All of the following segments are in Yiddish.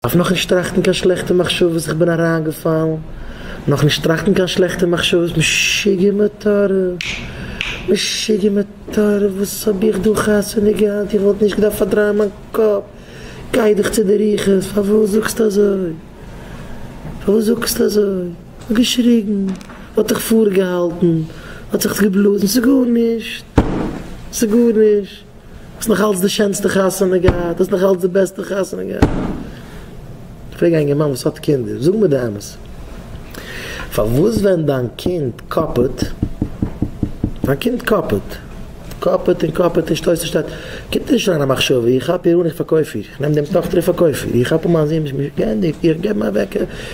אויף נאכנישט טראכטן קיין שלעכטע מחשבות איך בין אריינגעפאלן, נאכנישט טראכטן קיין שלעכטע מחשבות משוגע מטורף, משוגע מטורף וואס האב איך דא חתונה געהאט איך וואלט נישט געדארפט פארדרייען מיין קאפ, גיי דיך צו די רוחות פארוואס זאגסטו אזוי, פארוואס זאגסטו אזוי, כ'האב געשריגן, האט זיך פארגעהאלטן, האט זיך געבלאזן, ס'איז גארנישט, ס'איז גארנישט. האסט נאך אלץ די שענסטע חתונה געהאט, האסט נאך אלץ די בעסטע חתונה געהאט. איך פרעג א אינגערמאן וואס האט קינדער, זאג מיר די אמת, פארוואס ווען דיין קינד קאפעט, דיין קינד קאפעט, קאפעט און קאפעט און שטויסט און שטייט, קומט דיר נישט אריין א מחשבה, איך כאפ איר אן איך פארקויף איר, איך נעם דעם טאכטער איך פארקויף איר, איך כאפ אן מיין זון, געענדיגט, איך געב אים א וועקער.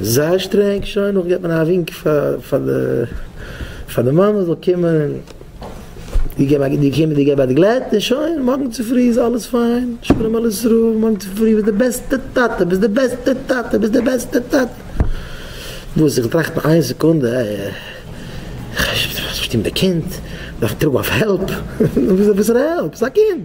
זייער שטרענג, שוין נאך געט מען א ווינק פאר פאר די מאמע זאל קומען די געב א די קומען די געב א גלעט און שוין מארגן צופרי איז אלעס פיין שלום על ישראל מארגן צופרי ביסט די בעסטע טאטע ביסט די בעסטע טאטע ביסט די בעסטע טאטע וואס איך טראכט נאך איין סעקונדע איך שטים די קינד דארף טראגן אויף העלפ וואס איז עפעס העלפ ס'איז א קינד.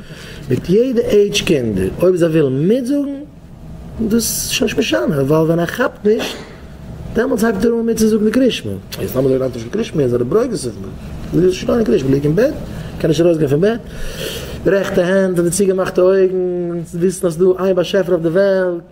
מיט יעדע עידזש קינדער אויב זיי ווילן מיטזאגן דאס איז שוין נישט משנה ווייל ווען ער כאפט נישט דעמאלטס הייבט ער אן מיטצוזאגן די קרישמע יעצט האבן זיי נאכנישט קיין קרישמע און זענען ברוגז אויף מיר זיי זאגן שוין נישט קיין קרישמע ליג אין בעט קען נישט ארויסגיין פון בעט רעכטע הענט און די צוגעמאכטע אויגן וויסן אז ס'איז דא איין באשעפער אויף די וועלט.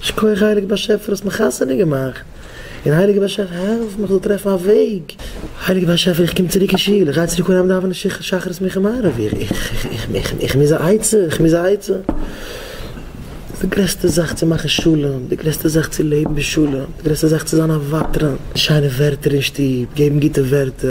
שכוח הייליגע באשעפער האסט מיך חתונה געמאכט, און הייליגע באשעפער העלף מיך זאל טרעפן א וועג, הייליגע באשעפער איך קום צוריק אין שול, איך גיי צוריק אהיים דאווענען שחרית מנחה און מעריב, איך איך איך איך מוז א עצה, איך מוז א עצה, ס'איז די גרעסטע זאך צו מאכן שלום, די גרעסטע זאך צו לעבן בשלום, די גרעסטע זאך צו זיין א ותרן, שיינע ווערטער אין שטוב, געבן גוטע ווערטער.